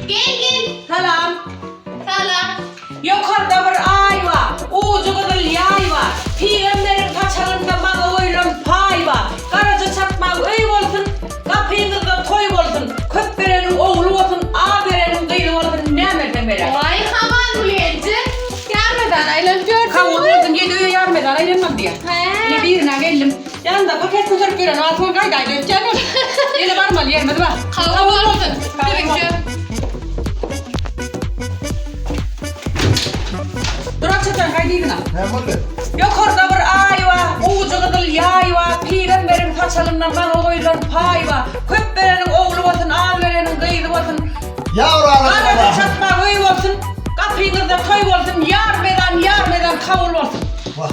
Gelgin. Salam. Salam. Ýokarda bir aý bar. Ujy gyzyl ýaý bar. Pygamberiň paçagynda maňa goýlan paý bar. Garaja çakmaň öý bolsun, Gapyňyzda toý bolsun. Köp bereniň ogly bolsun, Az bereniň gyzy bolsun, Näme berseň beräý. Waý haman Gulgenji, ýarmedana aýlanyp ýörsüň. Kowul boldum, ýedi öýe ýarmedana aýlanmam diýýä. Hä. Ine birine geldim. Ýanda paket göterip ýören wagty ol gaýdaýda ötýän ol. Ýene barmaly ýerimiz bar. Kabul bolsun. Siziňçe. Duran çeçen gaýdyňyna. Näme boldy? Ýokarda bir aý bar, gowujy gyzyl ýaý bar, pygamberiň saçalyndan maňa goýlan paý bar. Köp bereniň ogly bolsun, az bereniň gyzy bolsun. Ýar alada Garada balam. çatma öý bolsun, gapyňyzda toý bolsun, ýar mezan, ýar mezan kabul bolsun. Wah.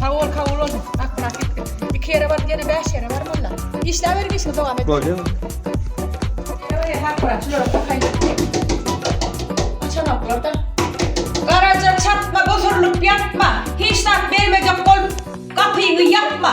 Sawol kabul bolsun akkurat gitdik iki ýere baryp ýene bäş ýere bar molla işläberiň işiňizi dowam etdiriň. Bolýa. Garaja çatma, osurylyp ýatma, hiç zat bermejek bolup, gapyňy ýapma.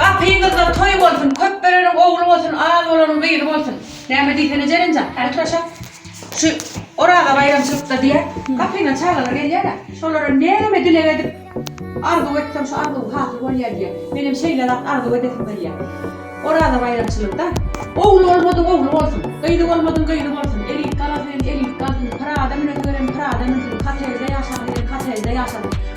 Gapyňyzda toý bolsun, köp bereniň ogly bolsun, az bolanyň gyzy bolsun. Näme diýsene Jelenjan, häli turaşak. Şu Oraza baýramçylykda diýä, gapyňa çagalar gelýär-ä, şolara näme dileg edip, arzuw etseň şu arzuw hasyl bolýar diýä. Menem şeýle zat arzuw edesim gelýä. Oraza baýramçylygda ogly bolmadyň ogly bolsun, gyzy bolmadyň gyzy bolsun, elit galasyn, elit galsyn, Pyrada münesi gelen Pyrada münsün, kotejde ýaşasy gelen kotejde ýaşasyn.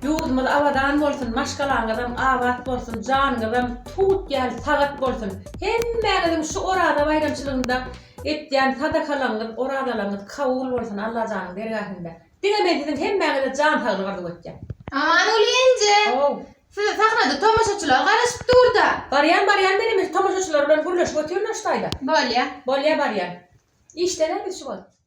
Ýurdumyz abadan bolsun maşgalaňyzam abat bolsun janyňyzam tut ýaly sagat bolsun hemmäňiziň şu oraza baýramçylygynda etýän sadakalaňyz orazalaňyz kabul bolsun Allajanyň dergähinde diňe men siziň hemmäňize jan saglyk arzuw etýän. Amanguly Ynjy How. Size sahnada tomaşaçylar garaşyp durda. Barýan barýan men hemişe tomaşaçylar bilen gürleşip otyryn aştaýda. Bolýa. Bolýa barýan. Işdäne biz şu wagt.